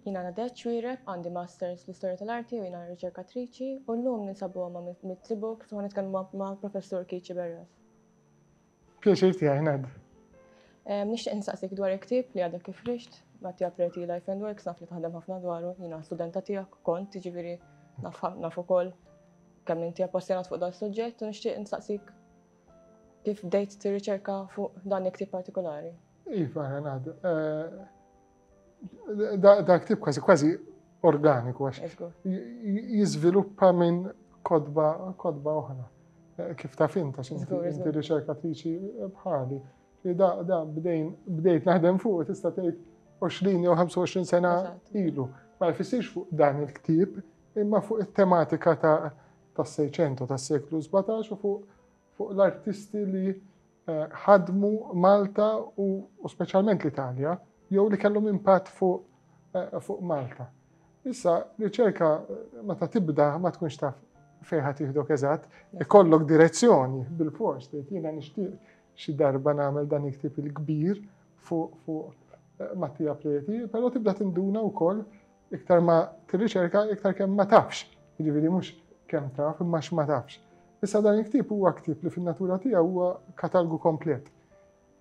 Jina Nadeċ Ċwireb, għandi Masters fl-Istorja tal-Arti u jina riċerkatriċi u l-lum ninsabu għamma mit-tibu kif għan nitkellmu ma' Professur Kici Berref. Pjaċir ti għajnad. Nishtiq nsaqsik dwar iktib li għadek kif rixt, ma ti għapreti Life and Works, naf li taħdem ħafna dwaru, jina studenta tijak, kont, ġiviri, naf ukoll Kemm inti appassjonat fuq dan suġġett u nixtieq nistaqsik kif bdejt tirriċerka fuq dan il-ktib partikolari? Iva, Renat. Da ktib kważi kważi organiku għax jiżviluppa minn kodba kodba oħra. Kif ta' fin ta' xinti riċerkatriċi bħali. Da, da, bdejt naħdem fuq, tista' tgħid 20 jew 25 sena ilu. Ma jfissirx fuq dan il-ktib, imma fuq it-tematika tas-Sejċentu, tas-seklu sbatax u fuq fuq l-artisti li eh, ħadmu Malta u, u speċjalment l-Italja, jew li kellhom impatt fuq eh, fuq Malta. Issa, riċerka eh, meta tibda ma tkunx taf fejħa tiħdok eżatt, ikollok direzzjoni bil-fors, li jiena nixtieq xi darba nagħmel dan iktib il-kbir fuq fuq Mattia Preti, però tibda tinduna wkoll Iktar ma tirriċerka, iktar kemm ma tafx. Jiġifieri mhux kemm taf, imma x'ma tafx. Issa dan il-ktieb huwa ktieb li fin-natura tiegħu huwa katalgu komplet.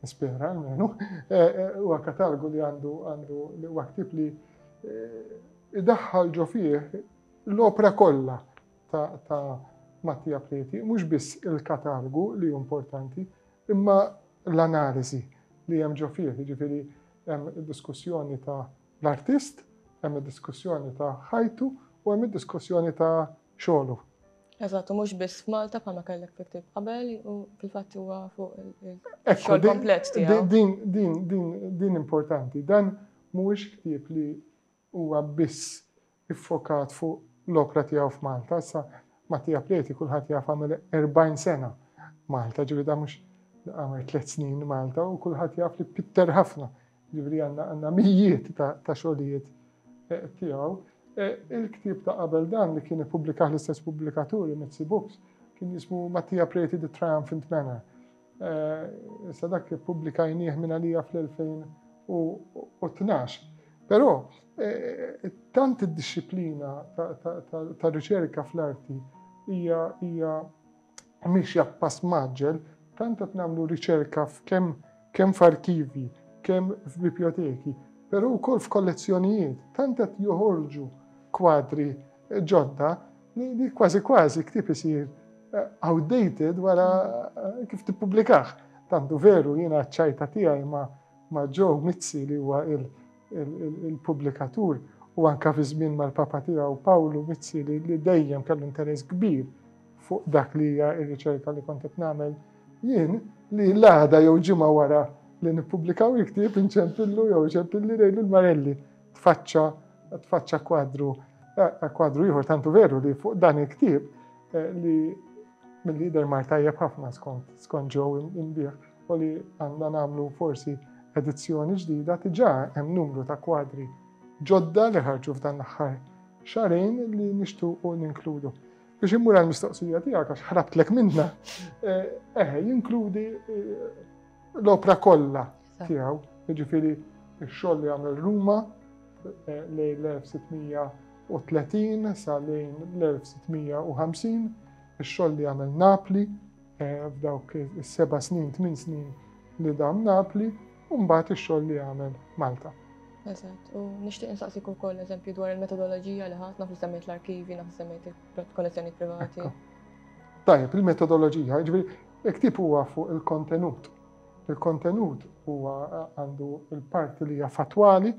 Nispera, almenu. Eh, eh, huwa katalgu li għandu għandu li huwa ktieb li eh, idaħħal ġo fih l-opra kollha ta' Mattia Preti, mhux biss il-katalgu li importanti, imma l-analiżi li hemm ġo fih, jiġifieri hemm diskussjoni ta' l-artist, hemm id-diskussjoni ta' ħajtu u hemm id-diskussjoni ta' xogħlu. Eżatt, mhux biss f'Malta bħalma kellek tiktib qabel u fil-fatt huwa fuq il-xogħol komplett tiegħu. Din din din din importanti. Dan mhuwiex ktieb li huwa biss iffokat fuq l-opra tiegħu f'Malta. Issa Mattia Preti kulħadd jaf għamel 40 sena Malta, ġifieri da mhux għamel tliet snin Malta u kulħadd jaf li pitter ħafna. Ġifieri għandna mijiet ta' xogħlijiet eh, tiegħu. Eh, il-ktieb ta' qabel dan li kien ippubblikah l-istess pubblikaturi Mitzi Books kien jismu Mattia Preti The Triumphant Manor. Issa dak ippubblikajnieh minn għalija fl-2012. Però tant id-dixxiplina tar-riċerka fl-arti hija mixja b'pass mgħaġġel, tant qed nagħmlu riċerka f'kemm kemm f'arkivi, kemm f'bibjoteki, però wkoll f'kollezzjonijiet, tant qed joħorġu kwadri ġodda li kważi kważi ktib isir eh, outdated wara eh, kif tippubblikaħ. Tantu veru jiena ċajta tiegħi ma' ma' Joe Mizzi li huwa il-pubblikatur u anka fi żmien mal-papa tiegħu Pawlu Mizzi li dejjem kellu interess kbir fuq dak li hija r-riċerka li kont qed nagħmel jien li l-għada jew ġimgħa wara li nippubblikaw il-ktieb inċempillu jew ċempilli lejlu l-Marelli. tfaċċa tfaċċa kwadru eh, kwadru ieħor tantu veru li fuq dan il-ktieb eh, li mill-lider mar tajjeb ħafna skont skont ġew imbieħ u li għandna nagħmlu forsi edizzjoni ġdida tiġà hemm numru ta' kwadri ġodda li ħarġu f'dan l-aħħar xarejn li nixtuqu ninkludu. Biex immur għal mistoqsija tiegħek għax ħrabtlek minna, eh, eh jinkludi l-opra kollha tiegħu, jiġifieri x-xogħol li għamel Ruma eh, lejn l-1630 sa lejn l-1650, ix-xogħol li għamel Napli eh, f'dawk is-seba' snin, tmien snin li dam Napli, u mbagħad ix-xogħol li għamel Malta. Eżatt, u nixtieq insaqsik ukoll eżempju dwar il-metodoloġija li ħadd naf semmejt l-arkivi, naf semmejt il-kollezzjoni privati. Tajjeb, il-metodoloġija, ġifieri il-ktib huwa fuq il-kontenut, Il-kontenut huwa għandu l-parti li hija fattwali,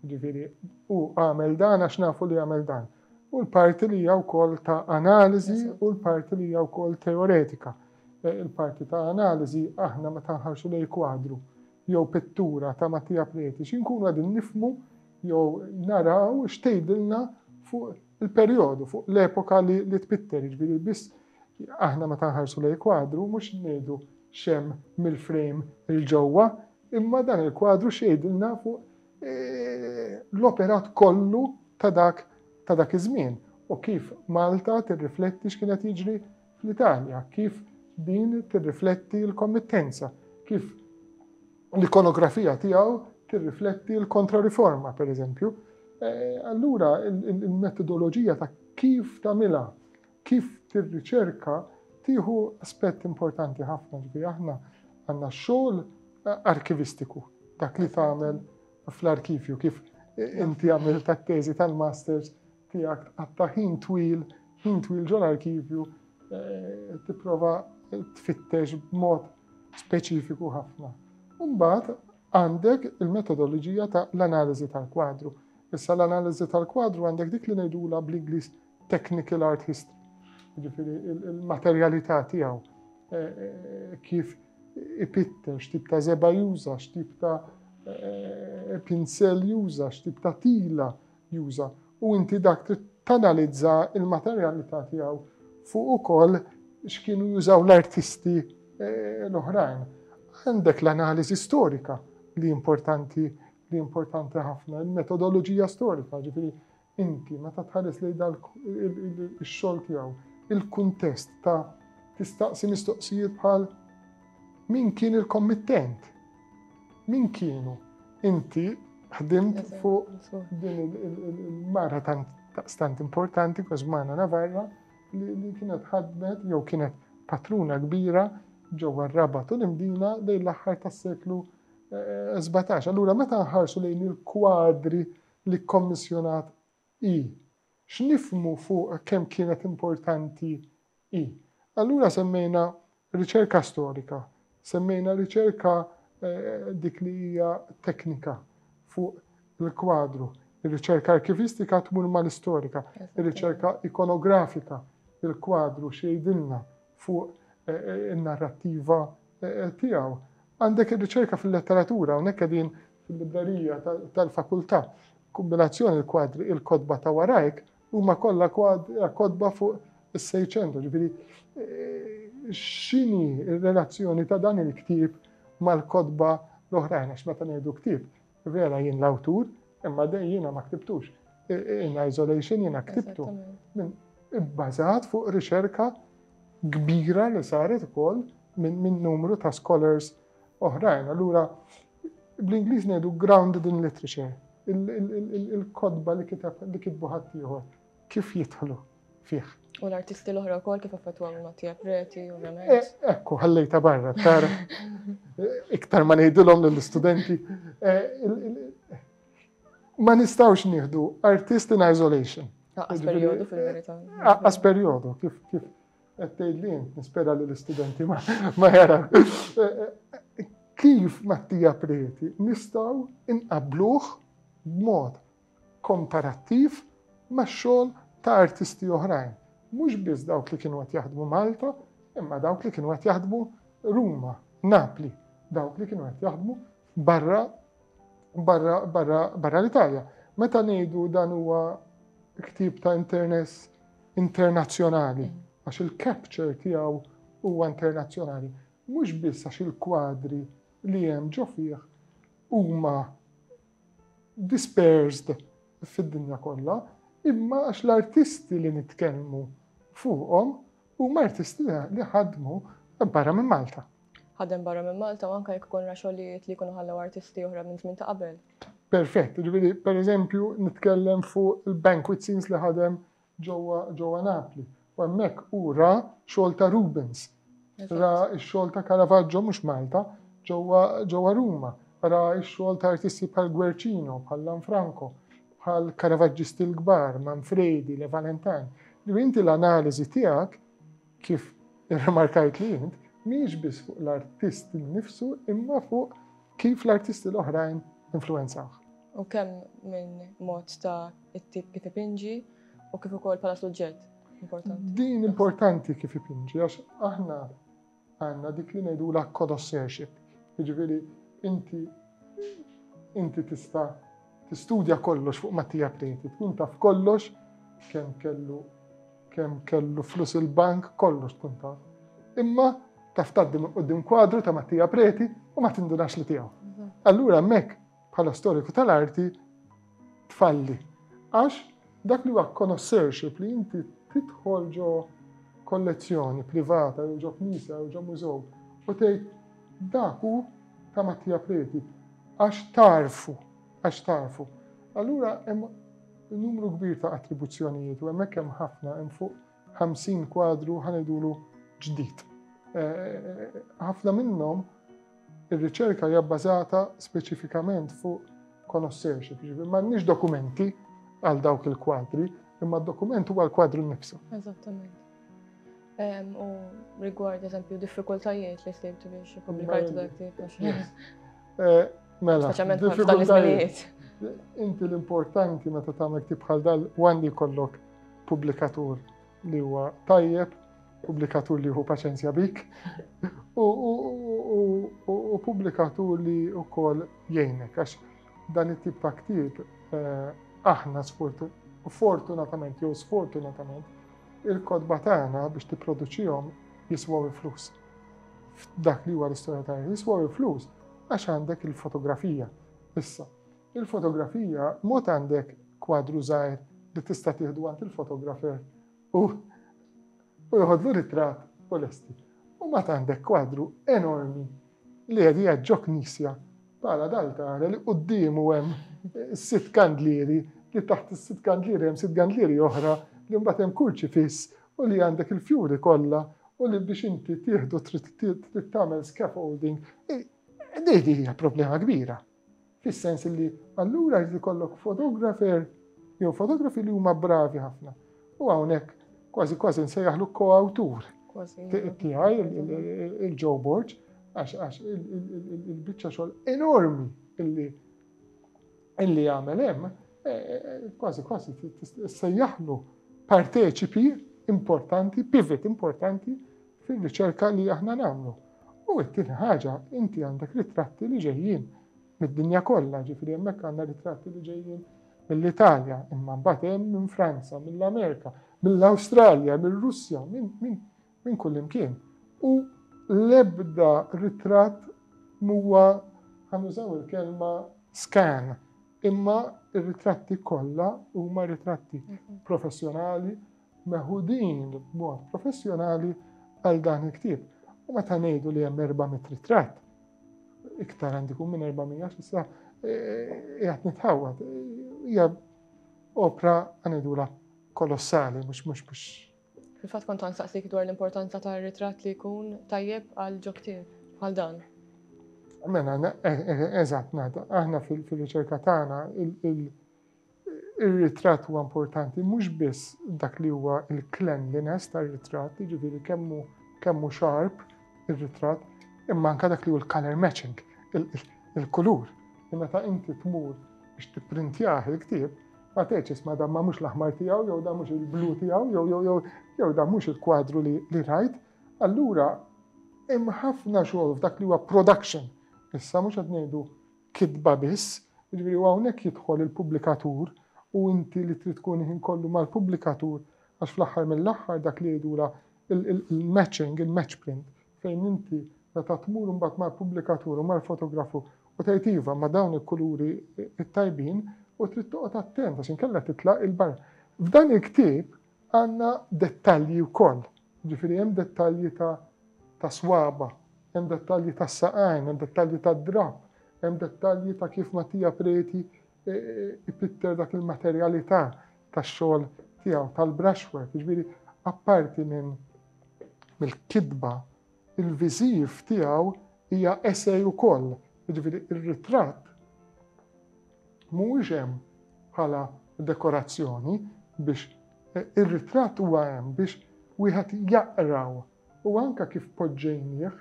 ġifieri u għamel dan għax nafu li għamel dan. U l-parti li hija wkoll ta' analiżi u l-parti li hija wkoll teoretika. E, il-parti ta' analiżi aħna meta nħarsu lej kwadru jew pittura ta' Mattia Preti xinkunu għadin nifmu jew naraw x'tgħidilna fuq il-perjodu, fuq l-epoka li tpitter, ġifieri biss Aħna meta nħarsu lejn kwadru mhux ngħidu x'hemm mill-frame 'il ġewwa, imma dan il-kwadru x'jgħidilna fuq l-operat kollu ta' dak ta' dak iż-żmien u kif Malta tirrifletti x'kien qed jiġri fl-Italja, kif din tirrifletti l-kommittenza, kif l-ikonografija tiegħu tirrifletti l-kontrariforma, per eżempju. Allura, il-metodoloġija ta' kif tagħmilha Kif tir-riċerka tieħu aspett importanti ħafna ġifieri aħna għandna xogħol arkivistiku, dak li tagħmel fl-arkivju kif inti għamil tat-teżi tal-masters tiegħek għatta ħin twil, ħin twil ġol arkivju eh, tipprova tfittex b'mod speċifiku ħafna. Mbagħad għandek il-metodoloġija ta' l-analiżi tal-kwadru. Issa l-analiżi tal-kwadru għandek dik li ngħidula bl-Ingliż technical art history, ġifiri il-materjalità tiegħu, eh, eh, kif ipitter, x'tip ta' zeba juża, x'tip ta' eh, pinsel juża, x'tip ta' tila juża. U inti dak tanalizza il-materjalità tiegħu fuq ukoll x'kienu jużaw l-artisti l-oħrajn. Għandek l-analiżi storika li importanti li importanti ħafna, il-metodoloġija storika, ġifiri inti meta tħares lejn dan ix-xogħol tiegħu, il-kuntest ta' tistaqsi mistoqsijiet bħal min kien il-kommittent? Min kienu? Inti ħdimt fuq din il-mara tant importanti Kosmana Navarra li kienet ħadmet jew kienet patruna kbira ġewwa r-rabat u l-imdina lejn l-aħħar tas-seklu 17. Allura meta nħarsu lejn il-kwadri li kkommissjonat hi, x'nifhmu fuq kemm kienet importanti hi. Allura semmejna riċerka storika, semmejna riċerka dik li hija teknika fuq il-kwadru, ir-riċerka arkivistika tmur mal-istorika, ir-riċerka ikonografika, il-kwadru x'jgħidilna fuq in-narrattiva tiegħu. Għandek ir-riċerka fil-letteratura, hawnhekk qegħdin fil-librerija tal-fakultà. Kombinazzjoni l-kwadri il-kotba ta' warajk huma kollha kotba fuq is-Seicento, ġifieri eh, x'inhi r-relazzjoni ta' dan il-ktieb mal-kotba l-oħrajn għax meta ngħidu ktieb vera jien l-awtur imma jiena ma ktibtux. In isolation jiena ktibtu. Ibbażat fuq riċerka kbira li saret ukoll minn numru ta' scholars oħrajn. Allura bl-Ingliż ngħidu grounded in literature, il-kodba li kiteb li kitbu ħaddieħor kif jidħlu fih. U l-artisti l-oħra wkoll kif affettwa minn Mattia Preti, ovvjament. Eh, ekku, ħallejta barra, tara. Iktar ma ngħidilhom lill-istudenti. Eh, ma nistgħux nieħdu artist in isolation. Aqqas perjodu fil-verità. Aqqas perjodu, kif Qed tgħidli int, nispera li l-istudenti ma jaraw. Kif Mattija Preti nistgħu inqabluh b'mod komparattiv max-xogħol ta' artisti oħrajn. Mhux biss dawk li kienu qed jaħdmu Malta, imma dawk li kienu qed jaħdmu Ruma, Napli, dawk li kienu qed jaħdmu barra barra l-Italja. Meta ngħidu dan huwa ktib ta' interess internazzjonali, għax il-capture tiegħu huwa internazzjonali, mhux biss għax il-kwadri li hemm ġo fih huma dispersed fid-dinja kollha, imma għax l-artisti li nitkellmu fuqhom Huma artisti li ħadmu barra minn Malta. Ħadem barra minn Malta u anke jekk ikun ra xogħlijiet li jkunu ħallew artisti oħra minn żmien ta' qabel. Perfett, jiġifieri pereżempju nitkellem fuq il-banquet scenes li ħadem ġewwa ġewwa Napli. U hemmhekk hu ra xogħol ta' Rubens. Ra x-xogħol ta' Caravaggio mhux Malta, ġewwa Ruma. Ra x-xogħol ta' artisti bħal Guercino, bħal Lanfranco. bħal Karavaġġisti l-kbar, Manfredi, Le Valentin, li inti l-analiżi tiegħek, kif irrimarkajt li int, mhijiex biss fuq l-artist innifsu imma fuq kif l-artisti l-oħrajn influenzawh. U kemm minn mod ta' it-tip kif ipinġi u kif ukoll bħala suġġett importanti. Din importanti kif ipinġi għax aħna Għandna dik li ngħidulha connoisseurship, jiġifieri inti inti tista' tistudja kollox fuq Mattia Preti, tkun taf kollox kemm kellu kemm kellu flus il-bank, kollox tkun taf. Imma taf taddim qudiem kwadru ta' Mattia Preti u ma tindunax li tiegħu. Allura hemmhekk bħala storiku tal-arti tfalli. Għax dak li huwa connoisseurship li inti tidħol ġo kollezzjoni privata jew ġo knisja jew ġo mużew u tgħid dak hu ta' Mattia Preti għax tarfu, għax tarfu. Allura hemm numru kbir ta' attribuzzjonijiet u hemmhekk hemm ħafna hemm fuq 50 kwadru ħanidulu ġdid. Ħafna minnhom ir-riċerka hija bbażata speċifikament fuq conoscership, ġifieri m'għandniex dokumenti għal dawk il-kwadri, imma d-dokument huwa l-kwadru nnifsu. Eżattament. U rigward eżempju diffikultajiet li sejtu biex ippubblikajtu dak tip. Mela, diffikultajiet. Inti l-importanti meta tagħmel tibħal dal għandi kollok pubblikatur li huwa tajjeb, pubblikatur li hu paċenzja bik, u pubblikatur li wkoll jgħinek, għax dan it-tip ta' ktib eh, aħna fortunatament jew sfortunatament il-kodba tagħna biex tipproduċihom jiswaw il-flus. F'dak li huwa l-istorja tagħna jiswaw il-flus għax għandek il-fotografija issa. Il-fotografija mod għandek kwadru żgħir li tista' tieħdu għand il-fotografer u u jħodlu ritrat u lesti. U ma għandek kwadru enormi li qed jaġġok knisja bħala dal-tara li quddiemu hemm eh, sitt kandlieri li taħt is-sitt kandlieri hemm sitt kandlieri oħra li mbagħad hemm kurċi fiss u li għandek il-fjuri kollha u li biex inti tieħdu trid tagħmel scaffolding. Eh, Dejdi hija problema kbira. Fis-sens li allura jrid ikollok fotografer jew fotografi li huma bravi ħafna. U hawnhekk kważi kważi nsejjaħlu ko-awtur tiegħi il-Joe Borg għax il-biċċa xogħol enormi illi illi għamel hemm e, e, e, kważi kważi sejjaħlu parteċipi importanti, pivot importanti fir-riċerka li aħna nagħmlu. U t-tieni ħaġa, inti għandek ritratti li ġejjin mid-dinja kollha, ġifieri hemmhekk għandna ritratti li ġejjin mill-Italja, imma mbagħad hemm minn Franza, mill-Amerika, mill-Awstralja, mir-Russja, minn kullimkien. U l-ebda ritratt mhuwa ħanużaw il-kelma scan, imma r-ritratti kollha huma ritratti professjonali meħudin b'mod professjonali għal dan il-ktieb. U meta ngħidu li hemm 400 ritratt, iktar għandi kun minn 400 xissa, e, e, jgħat nitħawat, hija opra għanidula kolossali, mux mux mux. Fil-fat kont għansaqsik dwar l-importanza ta' ritratt li jkun tajjeb għal ġokti għal dan. Mena, e, eżat, nada, aħna fil-riċerka tagħna Ir-ritratt huwa importanti mhux biss dak li huwa l-cleanliness tar-ritratt, jiġifieri kemm hu kemm hu sharp ir-ritratt, imma anke dak li hu l-color matching, il-kulur. Meta inti tmur biex tipprintjah il-ktieb, ma tgħidx isma' dan ma mhux l-aħmar tiegħu jew dan mhux il-blu tiegħu jew jew jew jew dan mhux il-kwadru li li rajt. Allura hemm ħafna xogħol f'dak li huwa production. Issa mhux qed ngħidu kitba biss, jiġifieri u hawnhekk jidħol il-pubblikatur u inti li trid tkun il-ħin kollu mal-pubblikatur għax fl-aħħar mill-aħħar dak li jgħidulha il-matching, il-match print, fejn inti meta tmur imbagħad mal-pubblikatur u mal-fotografu u tgħid iva ma' dawn il-kuluri t-tajbin u trid toqgħod attent għax inkella titlaq il-barra. F'dan il-ktieb Għandna dettalji wkoll, jiġifieri hemm dettalji ta' ta' swaba', hemm dettalji tas-saqajn, hemm dettalji tad-drapp, hemm dettalji ta' kif Mattia Preti ipitter dak il-materjalità tax-xogħol tiegħu tal-brushwork, jiġifieri apparti minn mill-kitba Il-viżiv tiegħu hija essay ukoll, jiġifieri r-ritratt mhuwiex hemm bħala dekorazzjoni biex ir-ritratt huwa hemm biex wieħed jaqraw u anke kif poġġejnieh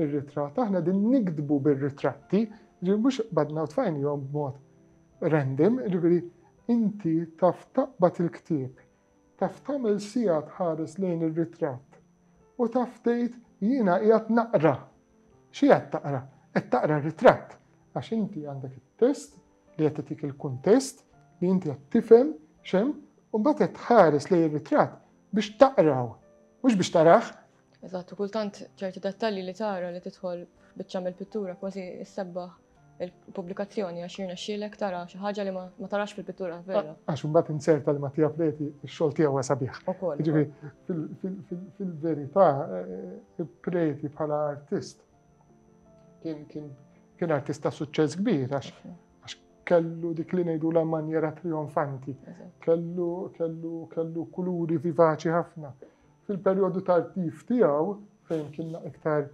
ir-ritratt aħna din nikdbu bir-ritratti, ġifieri mhux qbadna u tfajnihom b'mod random, ġifieri inti taf taqbad il-ktieb Taf tagħmel siegħa tħares lejn ir-ritratt u taf tgħid jiena qiegħed naqra. X'qiegħed taqra? Qed taqra r-ritratt għax inti għandek it-test li qed itik il-kuntest li inti qed tifhem xem u mbagħad qed tħares lejn ir-ritratt biex taqraw, mhux biex taraħ. Eżatt, kultant ċerti dettalji li tara li tidħol biċċa mill-pittura kważi issebbaħ il-pubblikazzjoni għax jirnexxielek tara xi ħaġa li ma tarax fil-pittura vera. Għax imbagħad inzerta li Mattia Preti x-xogħol tiegħu huwa sabiħ. fil-verità eh, Preti bħala artist kien artist ta' suċċess kbir għax kellu dik li ngħidu la manjera trionfanti, kellu kellu kellu kuluri vivaċi ħafna. Fil-perjodu tal-tif tiegħu fejn kien iktar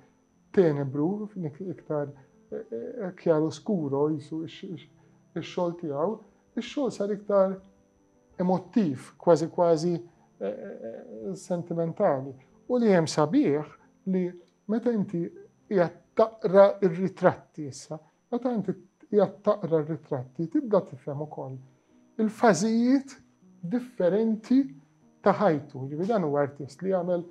tenebru, iktar kjaru skuro jisu ix-xogħol tiegħu, ix-xogħol sar iktar emottiv, kważi kważi eh, eh, sentimentali. U li hemm sabiħ li meta inti qiegħed taqra r-ritratti issa, Meta inti qiegħed taqra r-ritratti tibda tifhem ukoll il-fażijiet differenti ta' ħajtu. Jiġifieri dan huwa artist li għamel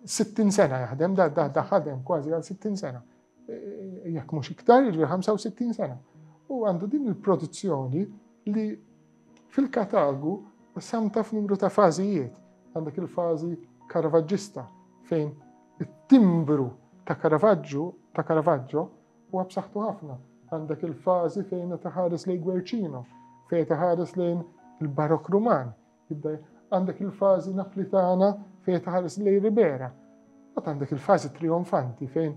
60 sena jaħdem, da da da ħadem kważi għal 60 sena. E, e, jekk mhux iktar, jiġri 65 sena. U għandu din il-produzzjoni li fil-katalogu samta f'numru ta' fażijiet. Għandek il-fażi karavaġġista fejn it-timbru ta' Karavaġġu ta' Karavaġġo huwa b'saħħtu ħafna. Għandek il-fażi fejn qed iħares lejn Gwerċino, fejn qed iħares lejn il-Barok Ruman, għandek il-fażi Naplitana fejn qed iħares lejn Ribera, u għandek il-fażi Trionfanti fejn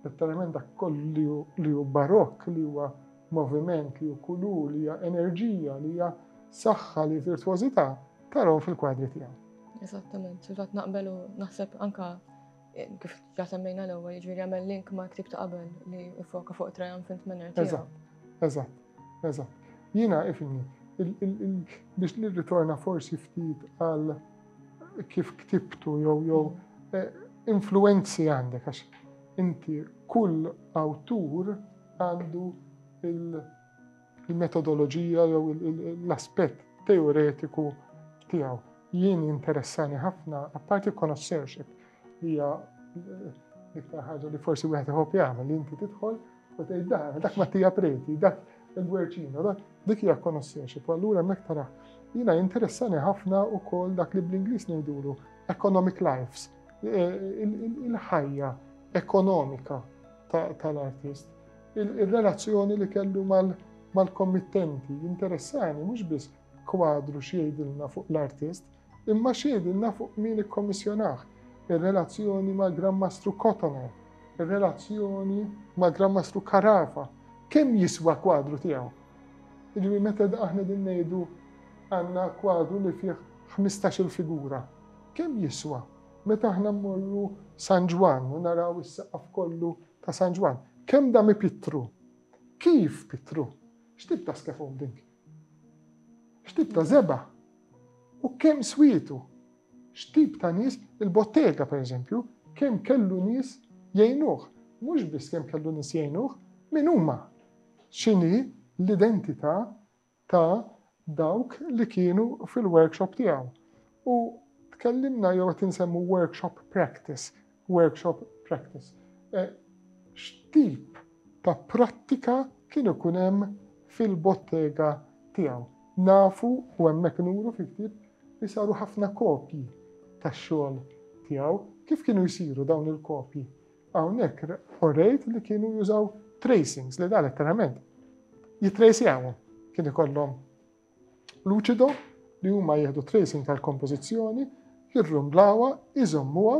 letteralment dak kollu li hu barokk, li huwa moviment, li hu kulur, li hija enerġija, li hija saħħa, li virtuożità, taraw fil-kwadri tiegħu. Eżattament, fil-fatt naqbel u naħseb anka Kif ġa semmejna l-ewwel, jiġifieri għamel link ma' ktieb ta' qabel li foka fuq triumphant manner tiegħu. Eżatt, eżatt, eżatt. Jiena ifni, biex nirritorna forsi ftit għal kif ktibtu jew jew mm. eh, influenzi għandek għax inti kull awtur għandu il- il-metodoloġija jew l-aspett teoretiku tiegħu. Jien interessani ħafna, apparti connoisseurship, li hija l-iktar ħaġa li forsi wieħed iħobb jagħmel li inti tidħol u tgħid dan, dak Mattija Preti, dak il-Gwerċino, dak dik hija connoisseurship, allura hemmhekk tara. Jiena interessani ħafna wkoll dak li bl-Ingliż ngħidulu economic lives, e, il-ħajja ekonomika tal-artist. Ir-relazzjoni li kellu mal-kommittenti jinteressani mhux biss kwadru x'jgħidilna fuq l-artist, imma x'jgħidilna fuq min ikkommissjonah, ir-relazzjoni mal-Gran Mastru Cotoner, ir-relazzjoni mal-Gran Mastru Carafa, kemm jiswa kwadru tiegħu. Jiġifieri meta aħna qegħdin ngħidu għandna kwadru li fih 15-il figura, kemm jiswa? Meta aħna mmorru San Ġwann u naraw is-saqaf kollu Ta' San Ġwann. Kemm da mi pittru! Kif pittru! X'tip ta' skefum dink? X'tip ta' żebgħa? U kemm swietu! X'tip ta' nies il-bottega, per eżempju, kemm kellu nies jgħinuh. Mhux biss kemm kellu nies jgħinuh, min huma? X'inhi l-identità ta' dawk li kienu fil-workshop tiegħu u tkellimna jew qed insemmu workshop practice, workshop practice. Eh, x'tip ta' prattika kien ikun hemm fil-bottega tiegħu. Nafu u hemmhekk nuru fil-ktieb li saru ħafna kopji tax-xogħol tiegħu. Kif kienu jsiru dawn il-kopji? Hawnhekk orejt li kienu jużaw tracings li da letteralment jitrejsjawhom. Kien ikollhom luċido li huma jieħdu tracing tal-kompożizzjoni, jirrumblawha, iżommuha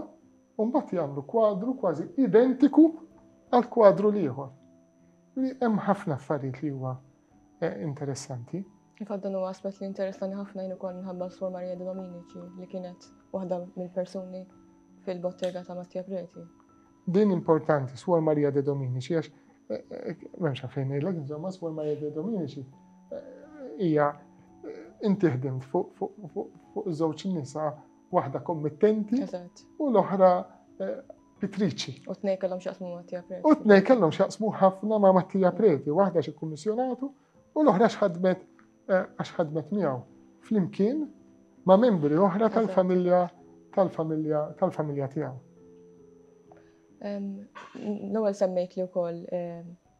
u mbagħad jagħmlu kwadru kważi identiku għal kwadru l-ieħor. Hemm ħafna affarijiet li huwa Eh, interessanti. Infatti dan huwa aspett li interessani ħafna jien ukoll minħabba Sor Marija de Dominici li kienet waħda mill-persuni fil-bottega ta' Mattia Preti. Din importanti, Sor Marija de Dominici, għax eh, eh, memx għafejn il insomma, Sor Marija de Dominici eh, hija inti ħdimt fuq żewġ nisa waħda kommittenti u l-oħra pittriċi. U t-nej kellhom xaqsmu Mattija Preti. U t-nej kellhom xaqsmu ħafna ma' Mattija Preti, waħda xi kummissjonatu u l-oħra xħadmet eh, għax ħadmet miegħu flimkien ma' membri oħra tal-familja tal-familja tal-familja tiegħu. L-ewwel semmejt li wkoll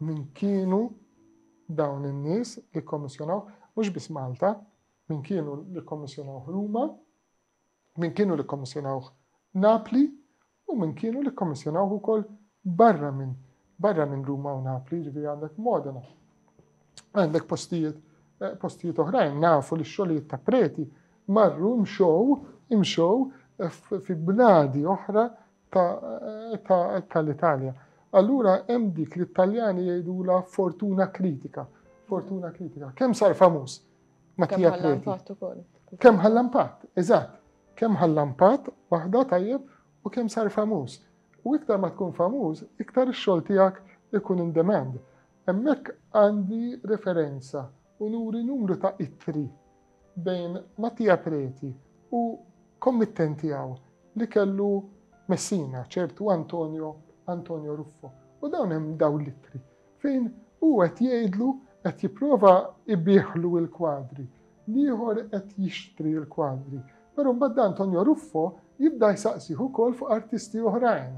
Min kienu dawn in-nies li kkommissjonawh? Mhux biss Malta, min kienu li kkommissjonawh Ruma, min kienu li kkommissjonawh Napli u min kienu li kkommissjonawh ukoll barra minn barra minn Ruma u Napli, ġifieri għandek Modena. Għandek postijiet eh, postijiet oħrajn nafu li x-xogħlijiet ta' preti marru mxow imxow eh, fi bnadi oħra ta' l-Italja. Allura hemm dik li t-Taljani jgħidula fortuna kritika. Fortuna kritika. Kemm sar famuż? Mattia Preti. Kemm ħalla impatt, eżatt. Kemm ħalla impatt waħda tajjeb u kemm sar famuż. U iktar ma tkun famuż, iktar ix-xogħol tiegħek ikun in demand. Hemmhekk għandi referenza u nuri numru ta' ittri bejn Mattia Preti u kommittenti tiegħu li kellu Messina, ċertu Antonio, Antonio Ruffo. U dawn hemm dawn l-ittri fejn hu qed jgħidlu qed jipprova ibiħlu l-kwadri, l-ieħor qed jixtri l-kwadri. Però mbagħad Antonio Ruffo jibda jsaqsih ukoll fuq artisti oħrajn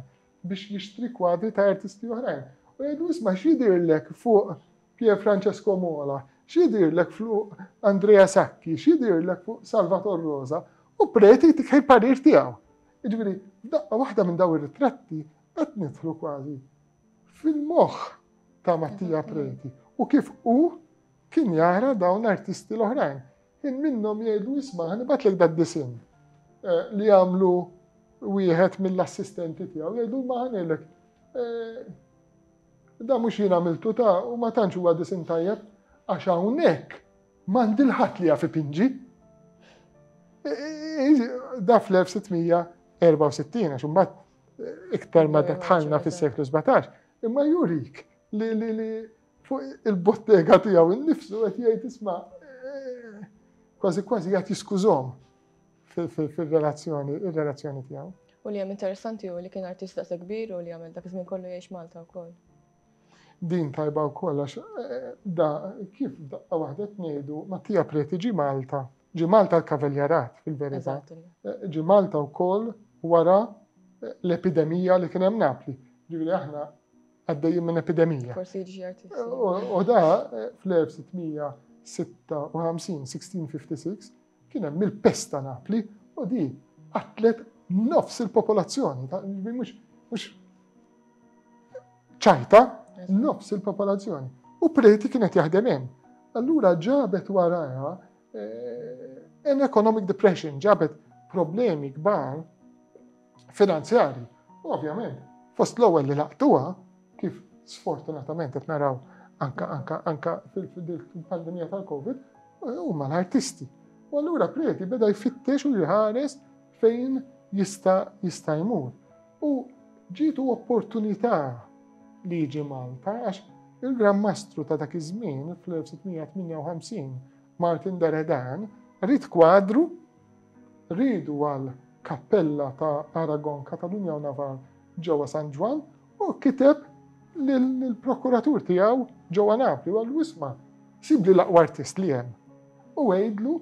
biex jixtri kwadri ta' artisti oħrajn. U jgħidlu isma' x'jidhirlek fuq Pier Francesco Mola, X'jidhirlek fluq Andrea Sacchi, x'jidhirlek fuq Salvator Rosa, u preti jtik il-parir tiegħu. Jiġifieri, f'daqqa waħda minn dawn ir-ritratti qed nidħlu kważi fil-moħħ ta' Mattia Preti u kif hu kien jara dawn l-artisti l-oħrajn. Kien minnhom jgħidu isma' ħanibatlek dad-disinn eh, li għamlu wieħed mill-assistenti tiegħu jgħidu ma ħanilek eh, Dan mhux jien għamiltu ta' u ma tantx huwa disinn tajjeb għax hawnhekk m'għandi l-ħadd li jaf ipinġi. Da fl-1664 għax imbagħad iktar ma dħalna fis-seklu 17, imma jurik li fuq il-bottega tiegħu innifsu qed jgħid isma' eh, kważi kważi qed jiskużhom. fir-relazzjoni, ir-relazzjoni tiegħu. U li hemm interessanti hu li kien artist daqshekk kbir u li għamel dak iż-żmien kollu jgħix Malta wkoll. Din tajba wkoll għax eh, da kif daqqa waħda tnejdu Mattia Preti ġi Malta. Ġi Malta l-kavaljarat fil-verità. Eh, ġi Malta wkoll wara eh, l-epidemija li kien hemm Napli. Ġifieri aħna għaddejjin minn epidemija. Forsi ġi artist. U da fl-1656, 1656, Kien hemm il-pest ta' Napli u di qatlet nofs il-popolazzjoni, mhux ċajta, nofs il-popolazzjoni. U preti kienet jaħdem hemm. Allura ġabet waraja eh, an economic depression, ġabet problemi kbar finanzjarji. U ovvjament, fost l-ewwel li laqtuha, kif sfortunatament qed naraw anka anka anka fil-pandemija tal-Covid, huma l-artisti. U allura Preti beda jfittex u jħares fejn jista' jista' jmur. U ġitu opportunità li jiġi Malta għax il-Gran Mastru ta' dak iż-żmien fl-1658 Martin Deredan rid kwadru Riedu għal kappella ta' Aragon, Katalunja u Navarre ġewwa San Ġwann u kiteb lill-prokuratur tiegħu ġewwa Napli u qallu isma' sibli l-aqwa artist li hemm u għidlu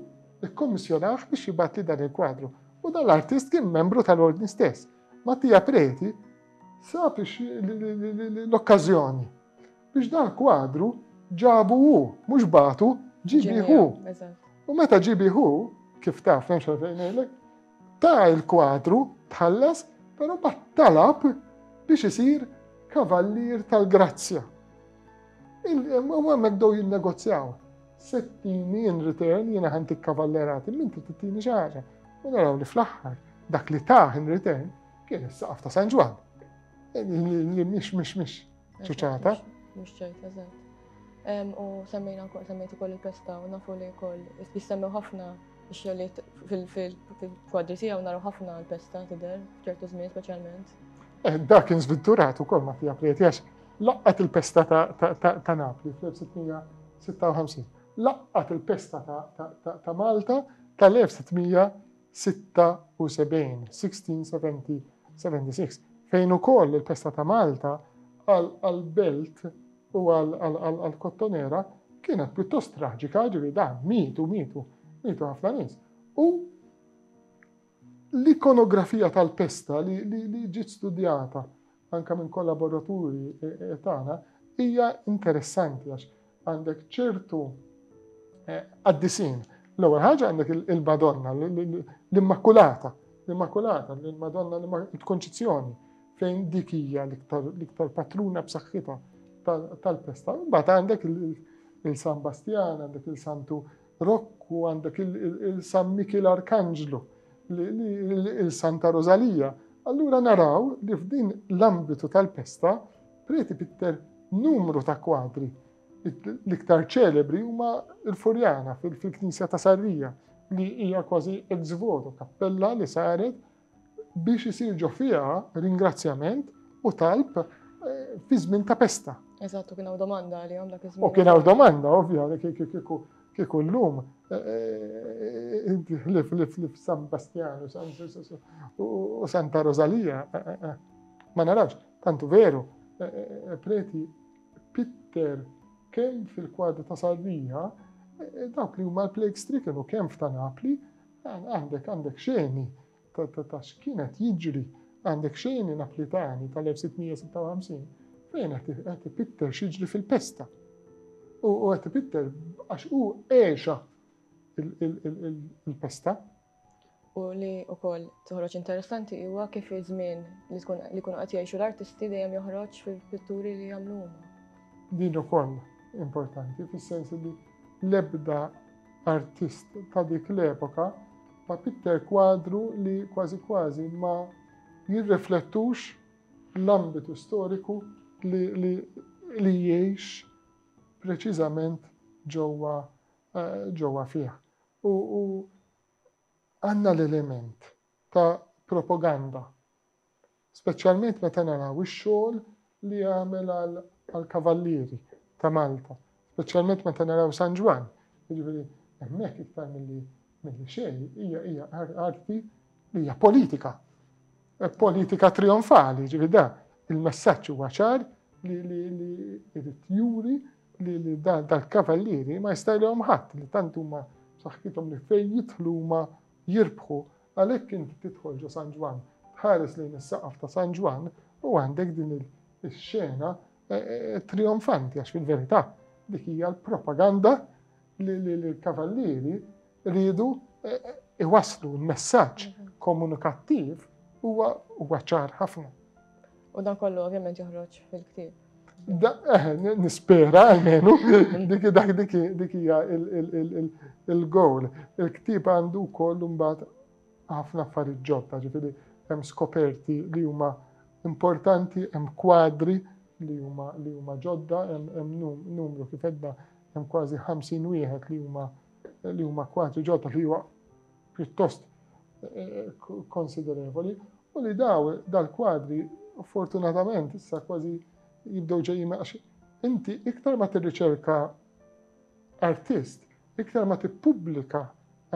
ikkommissjonah biex jibgħatli dan il-kwadru. U dan l-artist kien membru tal-Ordni stess. Mattia Preti sab l-okkażjoni Biex dal-kwadru ġabu hu, mhux bagħtu, ġibi hu. U meta ġibi hu, kif taf nemx għalfejn ngħidlek, ta' il-kwadru tħallas, però bat talab biex isir kavallier tal-grazzja. U għemmek dow jinnegozjaw. Settini in return jina ħantik kavallerati, minti t-tini xaħġa. U naraw li fl-axħar dak li taħ in return kien s saqaf ta' San Ġwan. Li miex, miex, miex. ċuċata. Mhux ċerta, eżatt. U semmejna wkoll semmejt ukoll il-pesta u nafu li wkoll jissemmew ħafna xogħlijiet fil-kwadri tiegħu naraw ħafna l-pesta tidher f'ċertu żmien speċjalment. Eh, dak kien żviddurat ukoll ma tiegħek li qed laqqat il-pesta ta' Napli fl-1656. Laqqat il-pesta ta' Malta tal-1656 76, 1670, 76, fejn ukoll il-festa ta' Malta għall-belt u għall-kottonera kienet pjuttost traġika, ġivi da, mietu, mietu, mietu ħafna nies. U l-ikonografija tal-pesta li ġiet studjata anke minn kollaboraturi tagħna, hija interessanti għax għandek ċertu qaddisin. L-ewwel ħaġa għandek il-Madonna, l-Immakulata, l-Immakulata, l-Madonna l-Konċizzjoni, fejn dik hija l-iktar patruna b'saħħitha tal-pesta. Mbagħad għandek il-San Bastjan, għandek il-Santu Rokk u għandek il-San Mikil Arkanġlu, il-Santa Rosalija. Allura naraw li f'din l-ambitu tal-pesta preti pitter numru ta' kwadri. L-iktar ċelebri huma l-Furjana fil-Knisja ta' Sarrija li hija kważi ex voto kappella li saret biex isir ġo fiha ringrazzjament u talb fi żmien ta' pesta. Eżatt, u kien hawn domanda għalihom dak iż-żmien. U kien hawn domanda, ovvja, kieku llum ħlif li f'San Bastjan u Santa Rosalija ma narax, tantu veru, preti Pitter kemm fil-kwadru ta' Sardinja, dawk li huma l-plague stricken u kemm f'ta' Napli, Għandek għandek xeni ta' x'kienet jiġri, għandek xeni Naplitani tal-1656 fejn qed ipitter x'jiġri fil-pesta. U qed ipitter għax hu għexa il-pesta. U li u koll toħroġ interessanti huwa kif iż-żmien li tkun li kunu qed jgħixu l-artisti dejjem joħroġ fil-pitturi li jagħmlu huma. Din ukoll importanti fis-sens li l-ebda artist ta' dik l-epoka, ma' pitter kwadru li kważi kważi ma jirriflettux l-ambitu storiku li, li, li jgħix preċiżament ġewwa eh, ġewwa fih. U, u għandna l-element ta' propaganda Speċjalment meta naraw ix-xogħol li għamel għall-Kavallieri ta' Malta, speċjalment meta naraw San Ġwann, jiġifieri hemmhekk iktar milli milli xejn hija hija arti li hija politika. E politika trionfali, ġifieri da il-messaġġ huwa ċar li li li irid juri li li dal-kavallieri ma jistajlhom ħadd li tant huma saħħithom li fejn jidħlu huma jirbħu. Għalhekk inti tidħol ġo San Ġwann, tħares lejn is-saqaf ta' San Ġwann u għandek din ix-xena trijonfanti għax fil-verità dik hija l-propaganda li l-kavallieri riedu iwasslu l-messaġġ komunikattiv huwa ċar ħafna. U dan kollu ovvjament joħroġ fil-ktieb. Eh, nispera għalmenu, diki dak diki diki il-gowl. Il-ktib għandu kollu mbagħad ħafna affarijiet ġodda, ġifieri hemm skoperti li huma importanti, hemm kwadri li huma li huma ġodda, hemm numru kif edna hemm kważi 50 wieħed li huma li huma kwadri ġodda li huwa pjuttost konsiderevoli u li daw dal-kwadri fortunatament issa kważi jibdew ġejjin għax inti iktar ma tirriċerka artist, iktar ma tippubblika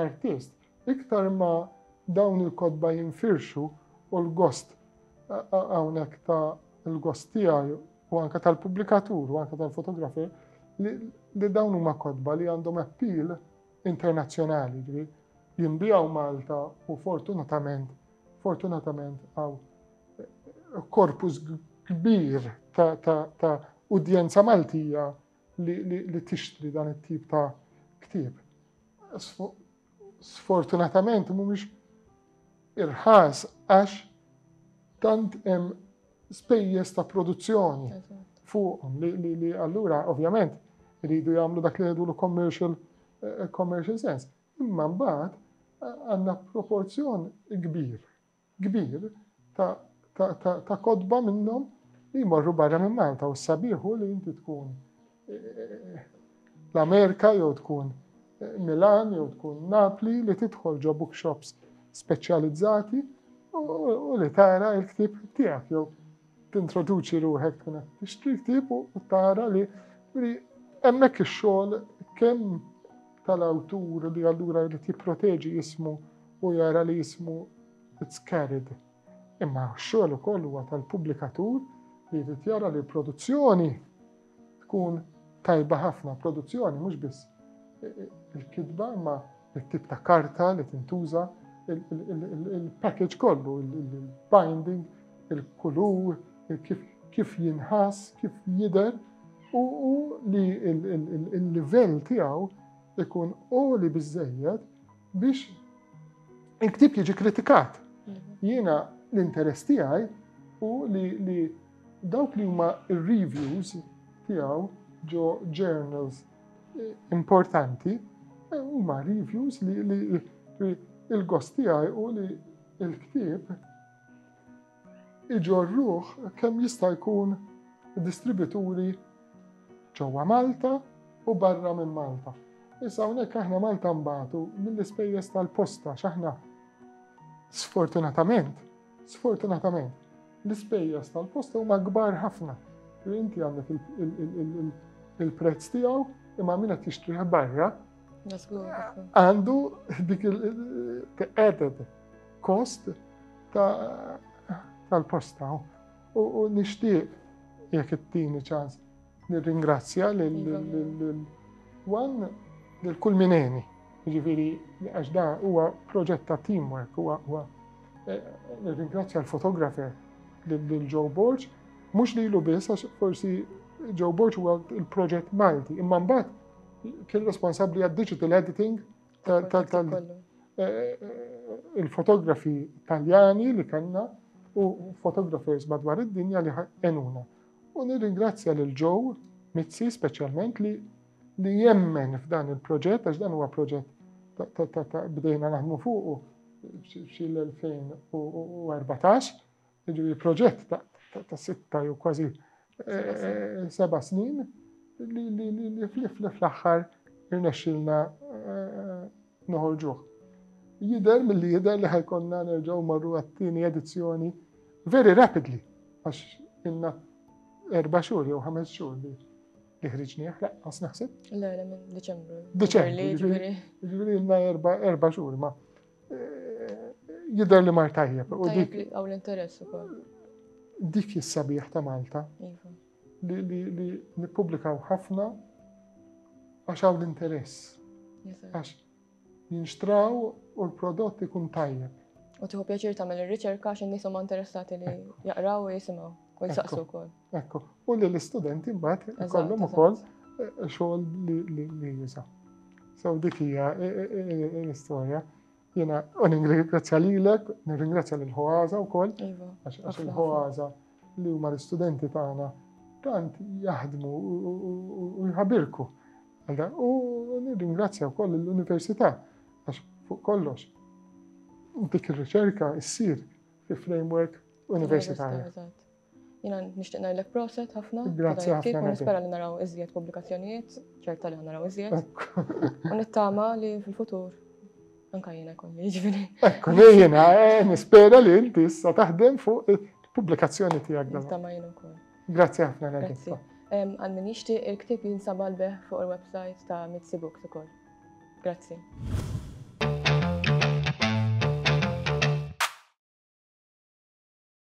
artist, iktar ma dawn il-kotba jinfirxu u l-gost hawnhekk ta' l-gost tiegħi u anke tal-pubblikatur u anke tal-fotografer li dawn huma kotba li għandhom appeal internazzjonali, jiġifieri jinbiegħu Malta u fortunatament fortunatament għaw korpus kbir ta' udjenza Maltija li tixtri dan it-tip ta' ktieb. Sfortunatament mhumiex irħas għax tant hemm spejjeż ta' produzzjoni fuqhom li allura ovvjament iridu jagħmlu dak li jgħidu commercial eh, commercial sense. Imma mbagħad eh, għandna proporzjon kbir, kbir ta' kodba minnhom li jmorru barra minn Malta u s-sabiħu li inti tkun l-Amerika jew tkun Milan jew tkun Napli li tidħol ġo bookshops speċjalizzati u li tara il-ktib tiegħek jew tintroduċi ruħek tkun qed tixtri ktib u tara li hemmhekk ix-xogħol kemm tal-awtur li allura jrid jipproteġi jismu u jara li jismu it's carried. Imma x-xogħol ukoll huwa tal-pubblikatur li jrid jara li l-produzzjoni tkun tajba ħafna produzzjoni mhux biss il-kitba imma it-tip ta' karta li tintuża il-package kollu, il-binding, il-kulur, kif jinħass, kif jidher u li il-livell tiegħu ikun oli biżejjed biex il-ktib jiġi kritikat. Mhm. Jiena l-interess tiegħi u li Dawk li huma r-reviews tiegħu ġo journals importanti huma reviews li il-gost tiegħi u li il-ktieb iġorruh kemm jista' jkun distributuri ġewwa Malta u barra minn Malta. Issa hawnhekk aħna Malta mbagħtu mill-ispejjeż tal-posta x'aħna sfortunatament Sfortunatament, l-ispejjeż tal-posta huma kbar ħafna u inti għandek il-prezz tiegħu imma min qed jixtrih barra għandu dik il-added kost tal-posta u nixtieq jekk it-tieni ċans Nirringrazzja lil Wan lil kull mineni. Ġifieri għax da huwa proġett ta' teamwork, huwa huwa eh, nirringrazzja l-fotografer lil Joe Borg, mhux lilu biss għax forsi Joe Borg huwa il-proġett Malti, imma mbagħad kien responsabbli għad digital editing tal-fotografi eh, eh, taljani li kellna u photographers madwar id-dinja li għenuna. U nirringrazzja lil Joe Mizzi speċjalment li li jemmen f'dan il-proġett, għax dan huwa proġett bdejna naħdmu fuqu xil 2014 ġivi proġett ta' sitta jew kważi eh, seba snin li fl-aħħar irnexxilna eh, noħorġuh. Jidher milli jidher li ħajkonna nerġgħu marru għat-tieni edizzjoni very rapidly għax inna erba' xhur jew ħames xhur li li ħriġni aħlaq, għas naħseb? Le, le, minn Deċembru. Deċembru. Ġviri, ġviri, inna erba' xhur ma' jidher li mar tajjeb. Għaw l-interess ukoll. Dik is-sabiħ ta' Malta. Iva. li, li, li nippubblikaw ħafna għax hawn l-interess. Għax jinxtraw u l-prodott ikun tajjeb. U tiħu pjaċir tagħmel ir-riċerka għax in-nies huma interessati li jaqraw u jisimgħu u jsaqsu wkoll. Ekku, u li l-istudenti mbagħad ikollhom ukoll eh, xogħol li juża. So dik hija eh, eh, l-istorja. Jena, u ningrazzja lilek, ningrazzja lil ħoaza u koll, iva, għax il-ħoaza li huma l-istudenti tagħna tant jaħdmu u jħabirku. U nirringrazzja wkoll l-Università għax fuq kollox dik ir-riċerka issir fi framework universitarja. Jina nishtiq ngħidlek proset ħafna. Grazzi ħafna. U nispera li naraw iżjed pubblikazzjonijiet, ċerta li naraw iżjed. U nittama li fil-futur anka jiena kolli jiġifieri. Ekku jiena eh, nispera li inti issa taħdem fuq il-pubblikazzjoni tiegħek. Nittama jiena wkoll. Grazzi ħafna Grazzi. Għal min jixtieq il-ktieb jinsab għalbeh fuq il-website ta' Mitzi Books ukoll. Grazzi.